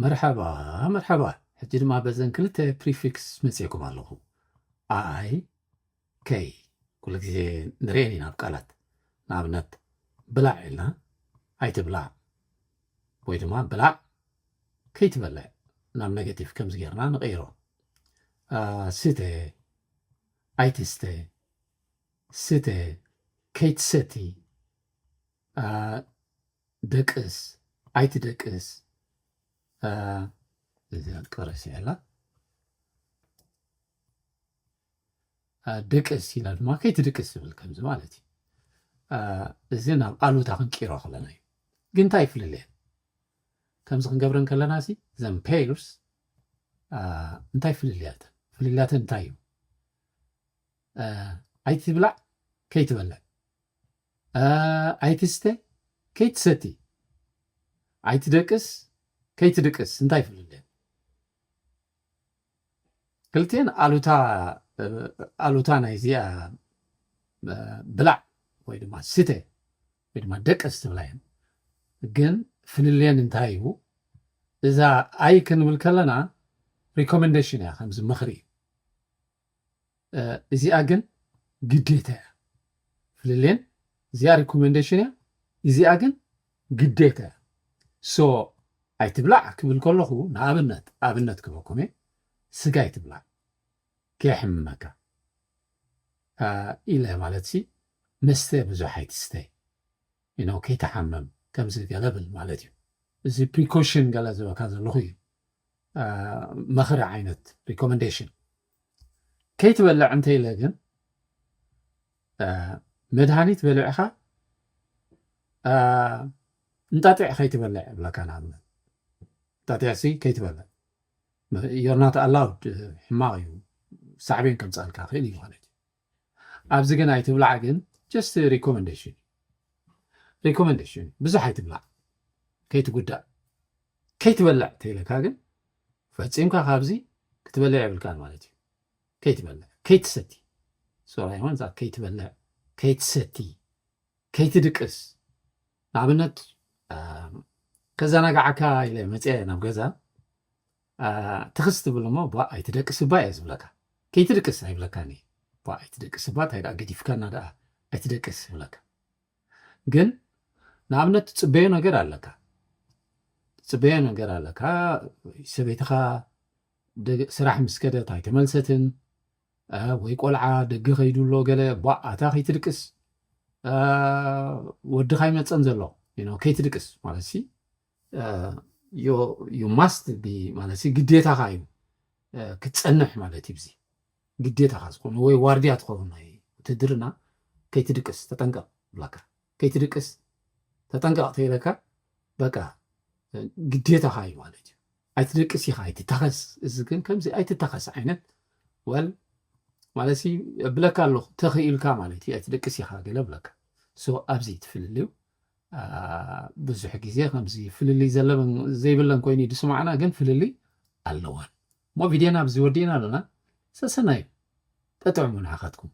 መርሐባ መርሐባ ሕጂ ድማ በዘን ክልተ ፕሪፊክስ መጺኤኩም ኣለኹ ኣይ ከይ ኩሉ ግዜ ንርኤን ኢና ኣብ ቃላት ንኣብነት ብላዕ ኢልና ኣይትብላዕ ወይ ድማ ብላዕ ከይትበልዕ ናብ ኔጌቲቭ ከምዚ ጌርና ንቐይሮ ስተ ኣይትስተ ስተ ከይትሰቲ ደቅስ ኣይትደቅስ እዚኣ ቀረስ ያላ ደቅስ ኢላ ድማ ከይትድቅስ ዝብል ከምዚ ማለት እዩ እዚ ናብ ኣሉታ ክንቂሮ ከለና እዩ ግን እንታይ ይፍልለየ ከምዚ ክንገብረን ከለና ሲ ዘን ፔርስ እንታይ ፍልልያተን ፍልልያተን እንታይ እዩ ኣይትብላዕ ከይትበልዕ ኣይትስተ ከይትሰቲ ኣይትደቅስ ከይትድቅስ እንታይ ፍልልየን ክልቲኤን ኣሉታ ኣሉታ ናይ እዚኣ ብላዕ ወይ ድማ ስተ ወይ ድማ ደቅስ ትብላ እየን ግን ፍልልየን እንታይ እዩ እዛ ኣይ ክንብል ከለና ሪኮመንዴሽን እያ ከምዚ ምኽሪ እዩ እዚኣ ግን ግዴታ እያ ፍልሌን እዚኣ ሪኮሜንዴሽን እያ እዚኣ ግን ግዴታ እያ ሶ ኣይትብላዕ ክብል ከለኹ ንኣብነት ኣብነት ክበኩም እየ ስጋ ኣይትብላዕ ከየሕምመካ ኢለ ማለት ሲ መስተ ብዙሕ ኣይትስተይ you know ከይትሓምም ከምዚ ገለ ብል ማለት እዩ እዚ ፕሪኮሽን ገለ ዝበካ ዘለኩ እዩ መክሪ ዓይነት recommendation ከይትበልዕ እንተ ኢለ ግን መድሃኒት በሊዕኻ እንጣጢዕ ከይትበልዕ ይብለካ ንኣብነት እንጣጢዕ ሲ ከይትበልዕ ዮርናት ኣላውድ ሕማቕ እዩ ሳዕቤን ከምፃልካ ክእል እዩ ማለት እዩ ኣብዚ ግን ኣይትብላዕ ግን ጀስት ሪኮመንደሽን እዩ ሪኮመንደሽን እዩ ብዙሕ ኣይትብላዕ ከይትጉዳእ ከይትበልዕ ተይለካ ግን ፈፂምካ ካብዚ ክትበልዕ የብልካን ማለት እዩ ከይትበልዕ ከይትሰቲ ሶራ ይሆን እዛ ከይትበልዕ ከይትሰቲ ከይትድቅስ ንኣብነት ከዘናግዓካ ኢለ መፅአ ናብ ገዛ ትኽስ ትብል እሞ ቧእ ኣይትደቅስ እባ እየ ዝብለካ ከይትድቅስ ኣይብለካን እየ ቧእ ኣይትደቅስ እባ እንታይ ደኣ ገዲፍካና ደኣ ኣይትደቅስ ይብለካ ግን ንኣብነት ትፅበዮ ነገር ኣለካ ትፅበዮ ነገር ኣለካ ሰበይትኻ ስራሕ ምስ ከደት ኣይተመልሰትን ወይ ቆልዓ ደገ ከይዱ ኣሎ ገለ ቧእ ኣታ ከይትድቅስ ወድኻ ይመፀን ዘሎ ከይትድቅስ ማለት ዩ ማስት ቢ ማለት ግዴታኻ እዩ ክትፀንሕ ማለት እዩ። እዚ ግዴታኻ ዝኾነ ወይ ዋርድያ ትኸውን ናይ ውትድርና ከይትድቅስ ተጠንቀቕ ብላካ ከይትድቅስ ተጠንቀቕ ተይለካ በቃ ግዴታኻ እዩ ማለት እዩ። ኣይትደቅስ ኢኻ ኣይትታኸስ እዚ ግን ከምዚ ኣይትታኸስ ዓይነት ወል ማለት ብለካ ኣለኹ ተኽኢልካ ማለት እዩ ኣይትደቅስ ኢኻ ገለ ብለካ ሶ ኣብዚ ትፍልልዩ ብዙሕ ግዜ ከምዚ ፍልልይ ዘለበን ዘይብለን ኮይኑ እዩ ዝስማዕና ግን ፍልልይ ኣለወን እሞ ቪድዮና ኣብዚ ወዲእና ኣሎና ሰሰናዩ ጠጥዑሙ ንዓኻትኩም